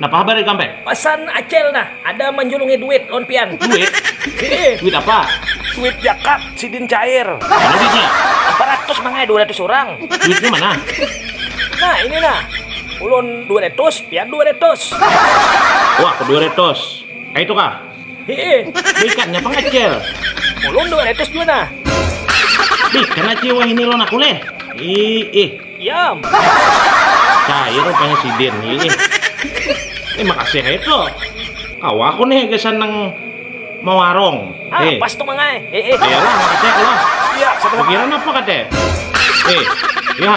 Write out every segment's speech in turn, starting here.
Napa habar ikam pe? Pasan acel nah, ada manjulungi duit lawan pian. Duit? Heeh. Duit apa? Duit jakat sidin cair. Mana duitnya? Empat ratus mangai dua ratus urang. Duitnya mana? Nah ini nah, ulun dua ratus, pian dua ratus. Wah, dua ratus. Kaitu kah? Hee, baikannya pang acil. Ulun dua ratus jua nah. Bih, kena cie wahini lawan aku leh. Ih, ih. Yam. Cair rupanya sidin. Ih, ih. Eh, makasih aja tuh. Kawa aku nih gasan nang mawarong. Ah, eh. pas tuh mangai. Eh, eh. Ya lah, makasih aku lah. Iya, Pikiran apa kate? Eh, ya.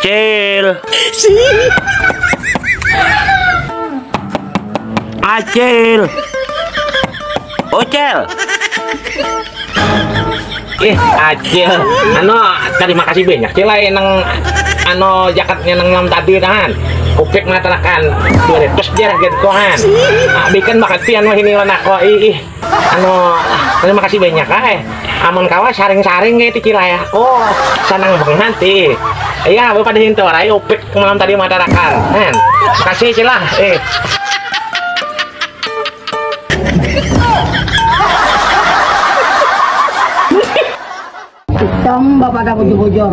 Cil. Acil. Ocel. Ih, acil. Ano, terima kasih banyak cil lain nang ano jaketnya nang malam tadi kan. Kupik matarakan. Terus dia lagi kohan. Abi kan bakal pian mah ini lan aku. Ih. Anu, terima kasih banyak ah eh. Amun kawa saring-saring kayak tikil ayah ko. Oh, sanang banget ti. Iya, bapak di hinto rai upik malam tadi matarakan. Kan. Kasih cilah. Eh. Hitam bapak dah bujur-bujur.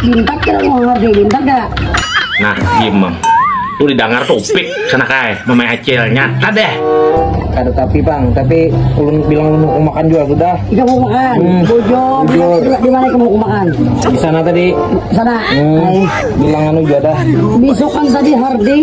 Bintak kira mau ngerti bintak dah. Nah, diem bang. Lu didengar tuh upik sana kai, mama acil nyata deh. Ada tapi bang, tapi ulun bilang lu mau makan juga sudah. Iya mau makan. Hmm. Bujur. Bujur. Di mana kamu mau makan? Di sana tadi. Sana. Hmm. Bilang anu juga dah. Besok kan tadi harding.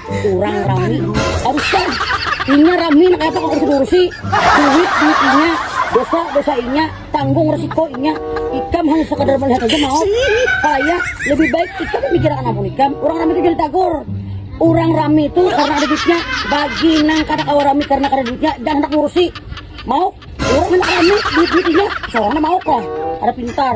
Orang rami harus kan inya rami nak apa kau kursi duit duit inya dosa dosa inya tanggung resiko inya ikam hanya sekadar melihat aja mau payah lebih baik ikam memikirkan ampun ikam orang rami itu jadi tagur orang rami itu karena ada duitnya bagi nang kada kawa rami karena kada duitnya dan hendak ngurusi mau orang hendak rami duit duit inya seorang mau kok ada pintar